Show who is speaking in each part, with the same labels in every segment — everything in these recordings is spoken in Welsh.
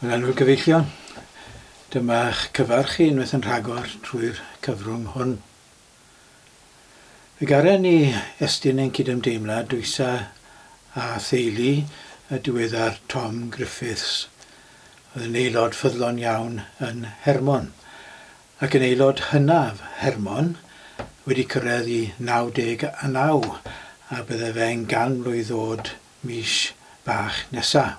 Speaker 1: Yn enw'r gyfeillion, dyma'ch cyfarch chi unwaith yn rhagor trwy'r cyfrwng hwn. Fe garen ni estyn ein cydymdeimlad dwysa a theulu y diweddar Tom Griffiths, oedd yn aelod ffyddlon iawn yn Hermon, ac yn aelod hynaf Hermon, wedi cyrraedd i 99 a byddai fe'n ganmlwydd ddod mis bach nesa.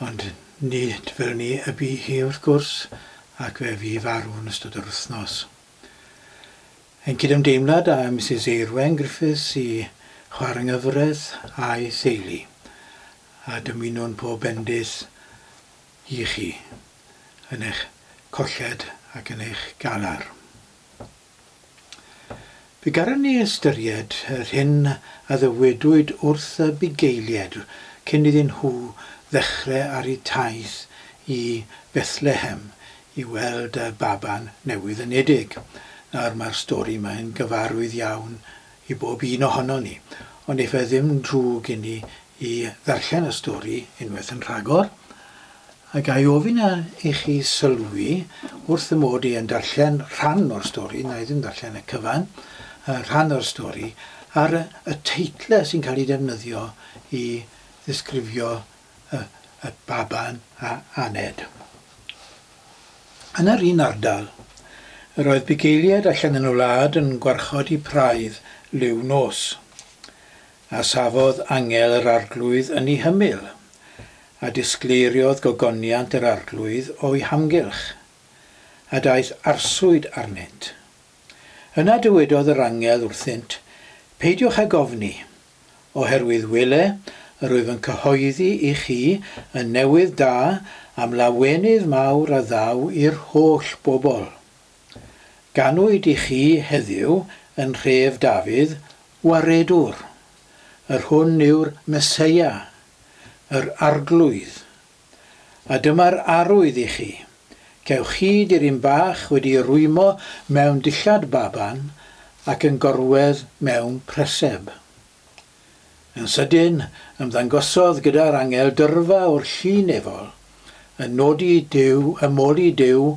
Speaker 1: Ond nid fel ni y bu hi wrth gwrs, ac fe fu farw yn ystod yr wythnos. Ein cydymdeimlad â Misus Eirwen Griffiths i Chwarnghyfraith a'i theulu, a dymunwn pob bendith i chi yn eich colled ac yn eich galar. Fe gallwn ni ystyried yr hyn a ddywedwyd wrth y bugeiliaid cyn iddyn nhw ddechrau ar eu taith i Fethlehem i weld y baban newydd yn Udig. Nawr, mae'r stori yma yn gyfarwydd iawn i bob un ohonon ni, ond efallai ddim drwg inni i ddarllen y stori unwaith yn rhagor, a ga i ofyn i chi sylwi, wrth fy mod i yn darllen rhan o'r stori, wna i ddim darllen y cyfan, rhan o'r stori, ar y teitlau sy'n cael eu defnyddio i ddisgrifio y y baban a aned. Yn yr un ardal, yr oedd bugeiliaid allan yn y wlad yn gwarchod eu praidd liw nos. A safodd angel yr Arglwydd yn ei hymyl, a disgleiriodd gogoniant yr Arglwydd o'i hamgylch, a daeth arswyd arnynt. Yna dywedodd yr angel wrthynt, Peidiwch ag ofni, oherwydd wele, yr wyf yn cyhoeddi i chi y newydd da am lawenydd mawr a ddaw i'r holl bobl. Ganwyd i chi heddiw yn nhref Dafydd, Waredwr. Yr hwn yw'r Meseia, yr Arglwydd. A dyma'r arwydd i chi, cewch chi diryn bach wedi ei rwymo mewn dillad baban ac yn gorwedd mewn preseb. Yn sydyn, ymddangosodd gyda'r angel dyrfa o'r llu nefol, yn nodi Duw, yn moli Duw,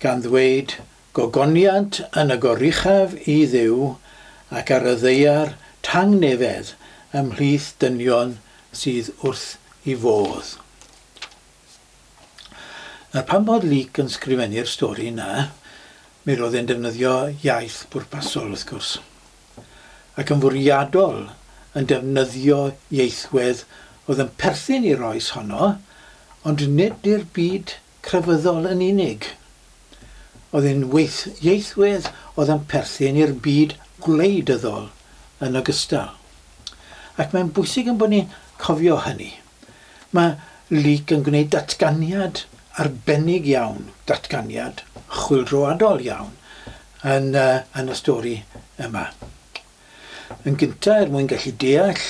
Speaker 1: gan ddweyd, Gogoniant yn y goruchaf i Dduw, ac ar y ddaear tangnefedd ymhlith dynion sydd wrth 'i fodd. Nawr, pan bod Luc yn sgrifennu'r stori 'na, mi roedd e'n defnyddio iaith bwrpasol, wrth gwrs. ac yn fwriadol yn defnyddio ieithwedd oedd yn perthyn i'r oes honno, ond nid i'r byd crefyddol yn unig. Oedd yn ieithwedd oedd yn perthyn i'r byd gwleidyddol yn ogystal. Ac mae'n bwysig ein bod ni'n cofio hynny. Mae Luke yn gwneud datganiad arbennig iawn, datganiad chwyldroadol iawn yn y yn y stori yma. Yn gynta', er mwyn gallu deall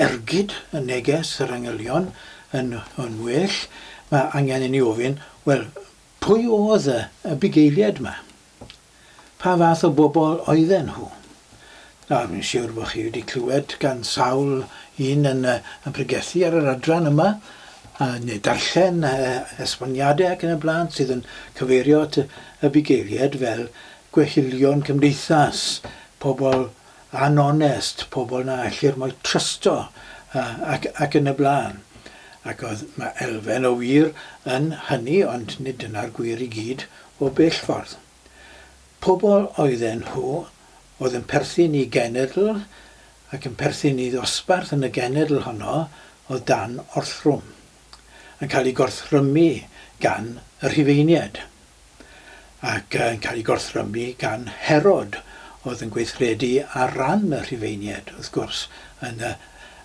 Speaker 1: ergyd y neges yr angylion yn yn well, mae angen i ni ofyn, wel, pwy oedd y y bugeiliad 'ma? Pa fath o bobl oedden nhw? Nawr, fi'n siwr bod chi wedi clywed gan sawl un yn yn pregethu ar yr adran yma, a neu darllen esboniadau ac yn y blaen sydd yn cyfeirio at y bugeiliaid fel gwehillion cymdeithas, pobl anonest, pobl na ellir mo'i trysto ac ac yn y blaen. Ac oedd, mae elfen o wir yn hynny, ond nid dyna'r gwir i gyd O bell ffordd. Pobl oedden nhw oedd yn perthyn i genedl ac yn perthyn i ddosbarth yn y genedl honno oedd dan orthrwm, yn cael ei gorthrymu gan y Rhufeiniaid, ac yn cael ei gorthrymu gan Herod oedd yn gweithredu ar ran y Rhufeiniaid, wrth gwrs, yn y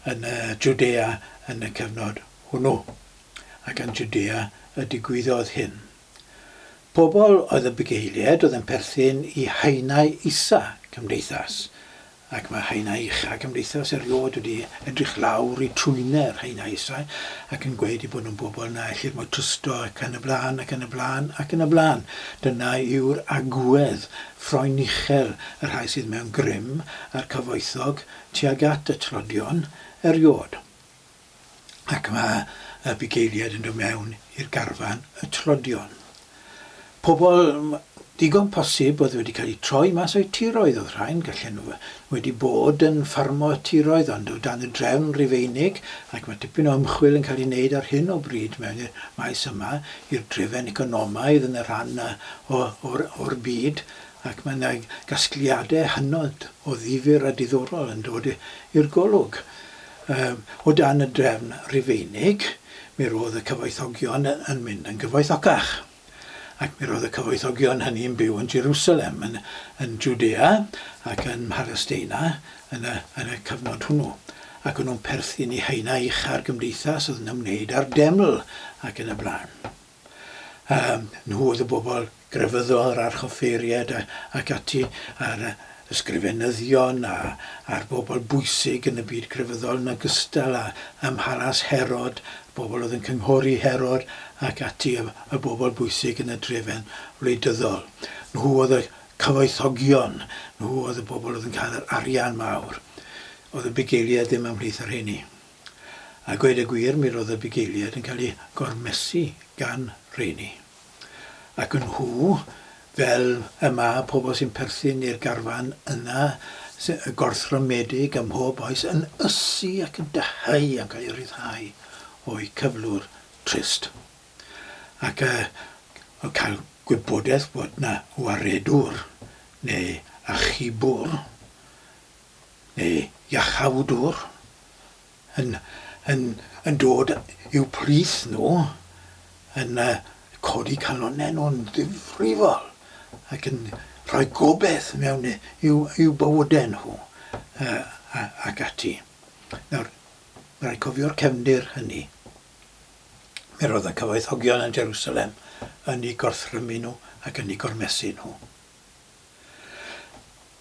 Speaker 1: yn y Jwdea yn y cyfnod hwnnw. Ac yn Jwdea y digwyddodd hyn. Pobl oedd y bugeiliaid oedd yn perthyn i haenau isa cymdeithas, ac mae haenau ucha cymdeithas erioed wedi edrych lawr i trwyne'r haenau isau ac yn gweud eu bod nhw'n bobl na ellir mo'i trysto ac yn y blaen ac yn y blaen ac yn y blaen. Dyna yw'r agwedd ffroen uchel y rhai sydd mewn grym a'r cyfoethog tuag at y tlodion erioed. ac mae y bugeiliaid yn dod mewn i'r garfan y tlodion. Pobl digon posib oedd wedi cael eu troi mas o'u tiroedd, oedd rhain, gallen nhw wedi bod yn ffarmo y tiroedd ond o dan y drefn Rufeinig ac mae tipyn o ymchwil yn cael ei wneud ar hyn o bryd mewn i'r maes yma i'r drefen economaidd yn y rhan o'r byd ac mae yna gasgliadau hynod o ddifyr a diddorol yn dod i'r golwg. Yym, o dan y drefn Rufeinig, mi roedd y cyfoethogion yn mynd yn gyfoethocach. Ac mi roedd y cyfoethogion hynny yn byw yn Jerusalem, yn, yn Judea, ac yn Mhalesteina, yn y, yn y cyfnod hwnnw. Ac o'n nhw'n perthyn i haenau ucha'r gymdeithas oedd yn ymwneud â'r deml, ac yn y blaen. a nhw oedd y bobl grefyddol, yr archoffeiriaid ac ati, a'r ysgrifenyddion a'r bobl bwysig yn y byd crefyddol yn ogystal â ym mhalas Herod, y bobl oedd yn cynghori Herod ac ati, y bobl bwysig yn y drefen wleidyddol. Nhw oedd y cyfoethogion, nhw oedd y bobl oedd yn cael yr arian mawr. Oedd y bugeiliaid ddim ymhlith y rheini. A gweud y gwir, mi roedd y bugeiliaid yn cael eu gormesu gan rheini. Ac yn nhw, fel y mae pobl sy'n perthyn i'r garfan yna, gorthrymedig ym mhob oes, yn ysu ac yn dyheu a'n cael eu rhyddhau o'u cyflwr trist. Ac y cael gwybodaeth bod 'na waredwr neu achubwr, neu iachawdwr yn yn yn dod i'w plith nhw, yn yy codi calonnau nhw'n ddifrifol ac yn rhoi gobaith mewn i'w i'w bywydau nhw yy a ac ati. Nawr, ma' raid cofio'r cefndir hynny. Mi roedd y cyfoethogion yn Jerusalem yn eu gorthrymu nhw ac yn eu gormesu nhw.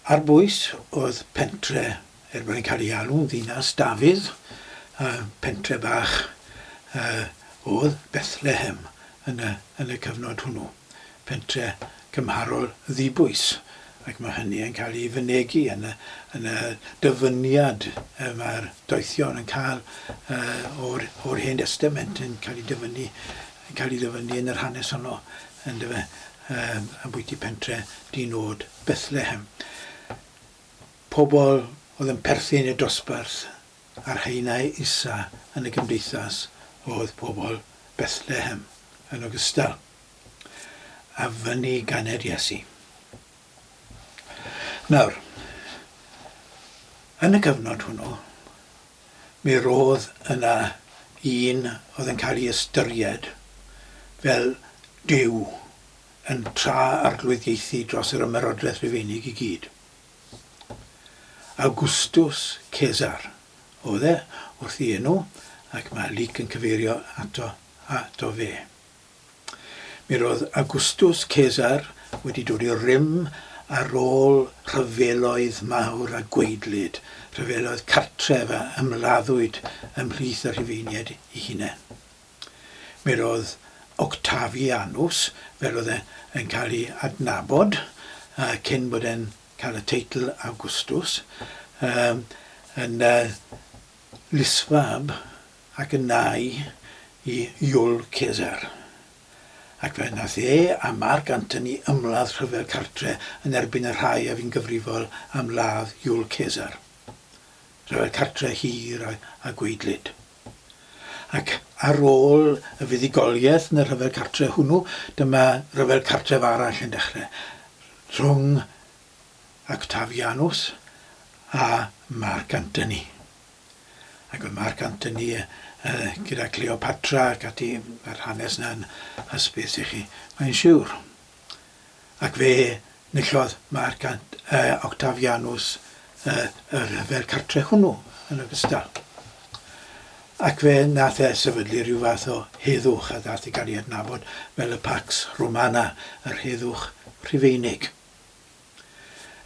Speaker 1: Ar bwys oedd pentre, er bod e'n cael ei alw'n ddinas Dafydd, a pentre bach yy oedd Bethlehem yn y yn y cyfnod hwnnw. Pentre cymharol ddibwys, ac ma' hynny yn cael ei fynegi yn y yn y dyfyniad yy ma'r doethion yn ca'l yy o'r o'r Hen Destament yn cael ei dyfynnu yn cael ei ddyfynnu yn yr hanes honno, yndyfe, um, ambwyty pentre dinod Bethlehem. Pobl oedd yn perthyn i'r dosbarth a'r haenau isa yn y gymdeithas oedd pobl Bethlehem yn ogystal a fyny ganed Iesu. Nawr, yn y cyfnod hwnnw, Mi roedd yna un oedd yn cael ei ystyried fel duw yn tra arglwyddiaethu dros yr Ymerodraeth Rufeinig i gyd. Awgwstws Cesar oedd e, wrth ei enw, ac mae Luc yn cyfeirio ato fe. Mi roedd Awgwstws Cesar wedi dod i'r rym ar ôl rhyfeloedd mawr a gwaedlyd, rhyfeloedd cartref a ymladdwyd ymhlith y Rhufeiniaid eu hunain. Mi roedd Octavianus, fel oedd e yn cael ei adnabod cyn bod e'n cael y teitl Awgwstws, yn lysfab ac yn nau i Iul Cesar, ac fe wnaeth e a Marc Antoni ymladd rhyfel cartre yn erbyn y rhai a fu'n gyfrifol am ladd Iul Cesar, rhyfel cartre hir a gwaedlyd. Ac ar ôl y fuddugoliaeth yn y rhyfel cartre hwnnw, dyma ryfel cartref arall yn dechrau, rhwng Octavianus a Marc Antoni. Ac mae Marc Antony gyda Cleopatra ac ati, mae'r hanes 'na'n hysbys i chi, mae'n siwr. Ac fe nillodd Marc Octavianus y rhyfel cartre hwnnw yn ogystal. Ac fe nath e sefydlu rhyw fath o heddwch a ddath i gael ei adnabod fel y Pax Romana, yr heddwch Rhufeinig.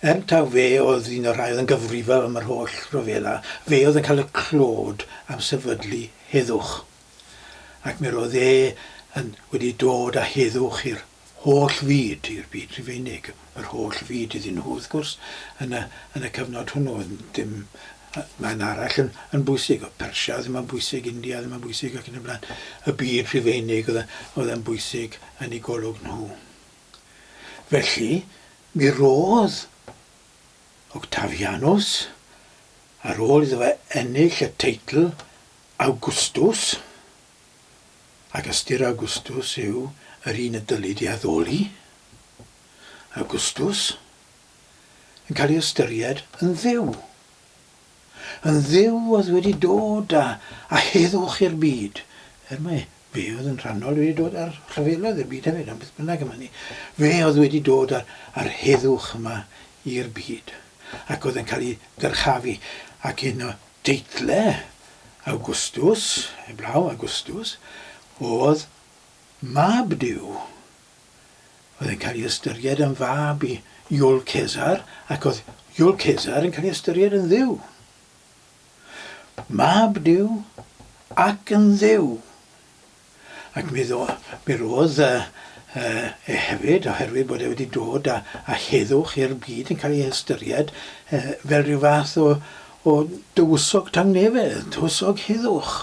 Speaker 1: Yn taw fe oedd un o'r rhai oedd yn gyfrifol am yr holl ryfela, fe oedd yn cael y clod am sefydlu heddwch. Ac mi roedd e yn wedi dod â heddwch i'r holl fyd, i'r byd Rhufeinig, yr holl fyd iddyn nhw, wrth gwrs, yn y, yn y cyfnod hwnnw, oedd dim man arall yn, yn bwysig, oedd Persia ddim yn bwysig, India ddim yn bwysig ac yn y blaen. Y byd Rhufeinig oedd, oedd yn bwysig yn ei golwg nhw. Felly, mi rodd Octavianus, ar ôl iddo fe ennill y teitl Awgwstws, ac ystyr Awgwstws yw yr un y dylid ei haddoli, Awgwstws, yn cael ei ystyried yn dduw. Yn Dduw oedd wedi dod a a heddwch i'r byd, er mai Fe oedd yn rhannol wedi dod a'r rhyfeloedd i'r byd hefyd, ond beth bynnag am hynny, Fe oedd wedi dod a'r a'r heddwch yma i'r byd, ac oedd yn cael ei ddyrchafu, ac un o deithle Awgwstws, heblaw, Augustus, oedd Mab Duw. oedd yn cael ei ystyried yn fab i Iul Cesar ac oedd Iul Cesar yn cael ei ystyried yn dduw. Mab Duw ac yn dduw. Ac mi, ddo, mi roedd uh, uh, e hefyd, oherwydd bod e wedi dod a, a heddwch i'r byd yn cael ei ystyried uh, fel rhyw fath o, o dywysog tangnefedd, dywysog heddwch,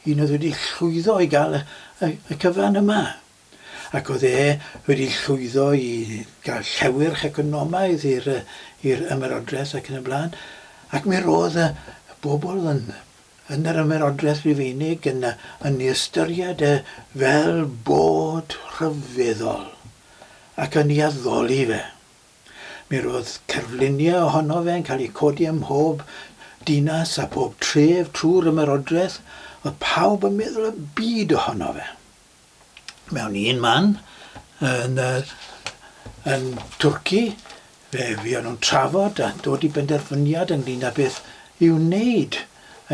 Speaker 1: un oedd wedi llwyddo i gael y, y, y cyfan yma. ac oedd e wedi llwyddo i gael llewyrch economaidd i'r i'r ymerodraeth ac yn y blaen, ac mi roedd y bobl yn yn yr ymerodraeth Rufeinig yn yn ei ystyried e fel bod rhyfeddol, ac yn ei addoli fe. Mi roedd cerfluniau ohono fe yn cael eu codi ym mhob dinas a phob tref trwy'r ymerodraeth, oedd pawb yn meddwl y byd ohono fe. mewn un man yn y, yn Twrci, fe fuon nhw'n trafod a dod i benderfyniad ynglyn â beth i'w wneud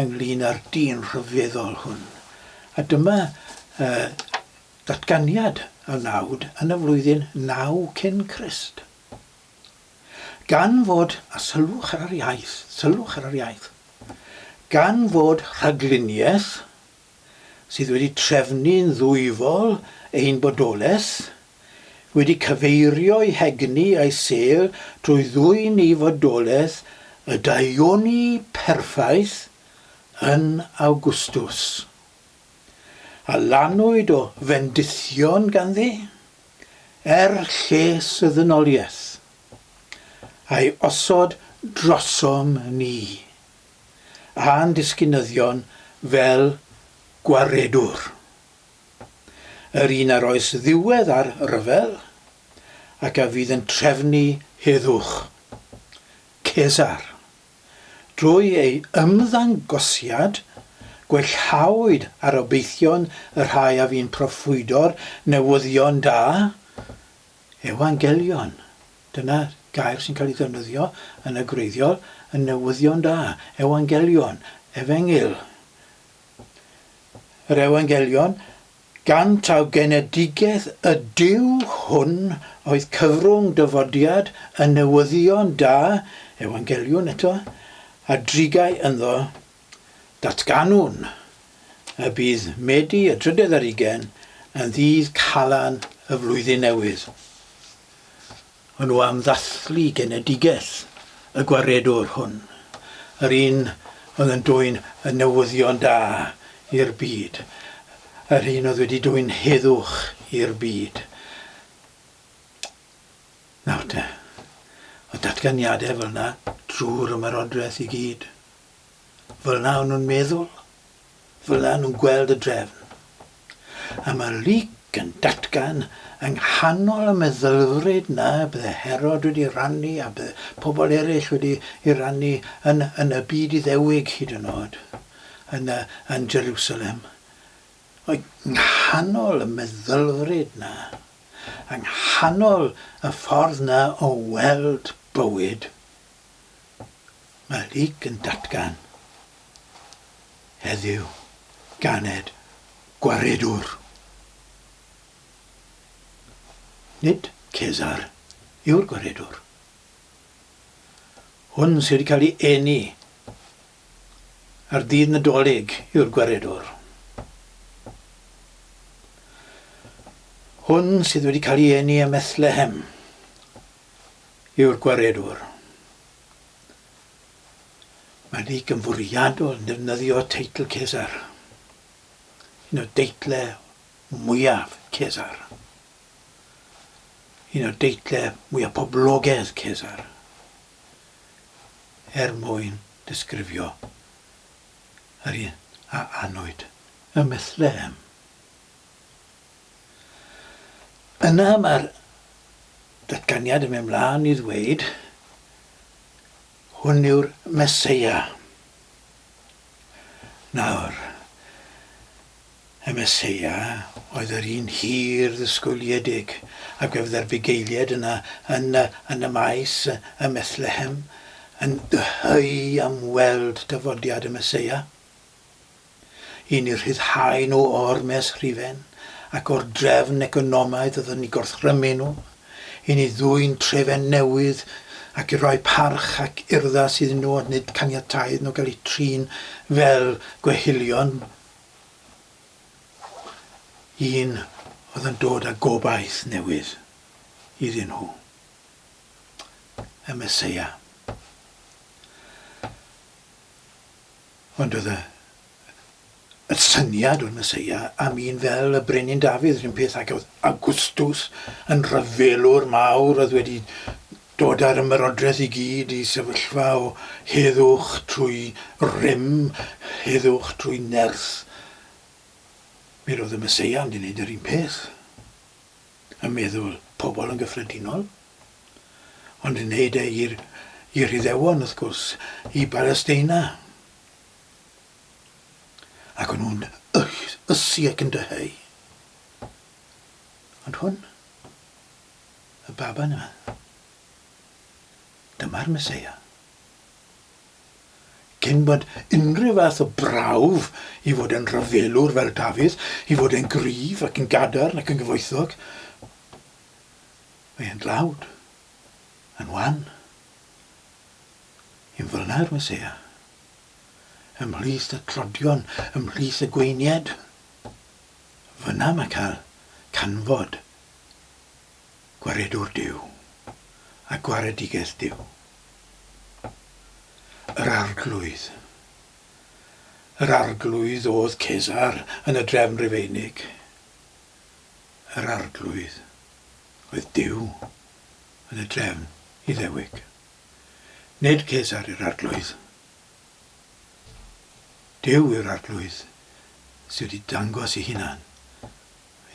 Speaker 1: ynglyn â'r dyn rhyfeddol hwn. A dyma uh, ddatganiad y nawd yn y flwyddyn naw cyn Crist. Gan fod, a sylwch ar yr iaith, sylwch ar yr iaith, gan fod rhagluniaeth sydd wedi trefnu'n ddwyfol ein bodolaeth, wedi cyfeirio'i hegni a'i sêl drwy ddwyn i fodolaeth y daioni perffaith yn Awgwstws. A lannwyd o fendithion ganddi, er lles y ddynoliaeth, a'i osod drosom ni. a'n disgynyddion fel gwaredwr, yr un ar oes ddiwedd ar ryfel ac a fydd yn trefnu heddwch, Cesar. Drwy ei ymddangosiad, gwellhawyd arobeithion y rhai a fu'n proffwydo'r newyddion da, Euangelion, dyna gair sy'n cael ei ddefnyddio yn y gwreiddiol yn Newyddion Da, Euangelion, Efengyl. Yr Euangelion, gan taw genedigaeth y Duw hwn oedd cyfrwng dyfodiad y Newyddion Da, Euangelion eto, a drigai ynddo Datganwn y bydd Medi y drydedd ar ugain yn ddydd Calan y Flwyddyn Newydd hwnnw am ddathlu genedigaeth y gwaredwr hwn, yr un oedd yn dwyn y newyddion da i'r byd, yr un oedd wedi dwyn heddwch i'r byd. Nawr te, oedd datganiadau fel yna drwy'r ymerodraeth i gyd. fel yna o'n nhw'n meddwl, fel yna o'n nhw'n gweld y drefn. A mae Luc yn datgan yng nghanol y meddylfryd na bydde Herod wedi rannu a bydde pobl eraill wedi ei rannu yn, yn y byd Iddewig hyd yn oed, yn, yn Jerusalem. Yng nghanol y meddylfryd na, yng nghanol y ffordd na o weld bywyd, Mae Luke yn datgan heddiw ganed gwaredwr. Nid Cesar yw'r gwaredwr. Hwn sydd wedi cael ei eni ar ddydd Nadolig yw'r gwaredwr. Hwn sydd wedi cael ei eni ym Methlehem yw'r gwaredwr. Mae'n rhy gynfwriadol yn defnyddio teitl Cesar, un o deitlau mwyaf Cesar, un o deitlau mwyaf poblogaidd Cesar, er mwyn disgrifio yr un a anwyd y Mythlem. Yna mae'r datganiad yn mynd mlaen i ddweud, Hwn yw'r Meseia. Nawr, y Meseia oedd yr un hir ddisgwyliedig a gwefdda'r bugeiliaid yna yn y, yn y maes ym Methlehem yn dyheu am weld dyfodiad y Meseia. Yn eu rhyddhau nhw o ormes rhifen ac o'r drefn economaidd oedd yn eu gorthrymu nhw, yn eu dwyn trefen newydd ac i roi parch ac urddas iddyn nhw ond nid caniataodd nhw gael eu trin fel gwehylion un oedd yn dod â gobaith newydd iddyn nhw, y Meseia. Ond oedd y syniad o'r Meseia am un fel y Brenin Dafydd, yr un peth ag oedd Awgwstws yn rhyfelwr mawr oedd wedi dod â'r ymerodraeth i gyd i sefyllfa o heddwch trwy rym, heddwch trwy nerth. Mi roedd y Meseia yn mynd i wneud yr un peth. y meddwl pobl yn gyffredinol, ond yn wneud e i'r i'r Iddewon, wrth gwrs, i Balesteina. Ac o'n nhw'n ysu ac yn dyheu. Ond hwn, y baban yma, dyma'r Meseia. Cyn bod unrhyw fath o brawf i fod yn ryfelwr fel Dafydd, i fod e'n gryf ac yn gadarn ac yn gyfoethog, mae e'n dlawd, yn wan, yn flaenau'r Meseia, ymhlith y tlodion, ymhlith y gweiniaid. Fyna mae cael canfod gwaredwr Duw a gwaredigaeth Duw. Yr Arglwydd. Yr Arglwydd oedd Cesar yn y drefn Rufeinig. Yr Arglwydd oedd Duw yn y drefn Iddewig. Nid Cesar yw'r Arglwydd. Duw yw'r Arglwydd sydd wedi dangos ei hunan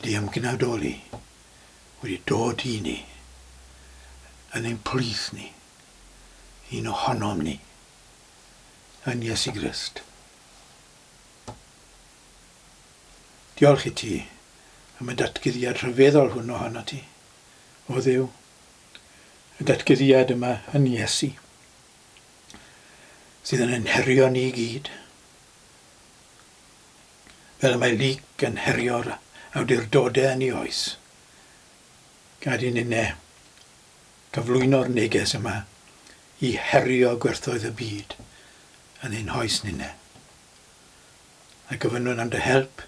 Speaker 1: Ydy ymgnadoli wedi dod i ni yn ein plith ni, un ohonom ni, yn Iesu Grist? Diolch i ti am y datguddiad rhyfeddol hwn ohono ti, o Dduw, y datguddiad yma yn Iesu, sydd yn ein herio ni i gyd. fel y mae Luc yn herio'r awdurdodau yn ei oes, gad i ninne gyflwyno'r neges yma i herio gwerthoedd y byd yn ein hoes ninne. A gofynnwn am dy help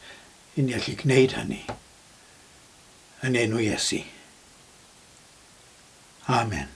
Speaker 1: i ni allu gwneud hynny, yn enw Iesu. Amen.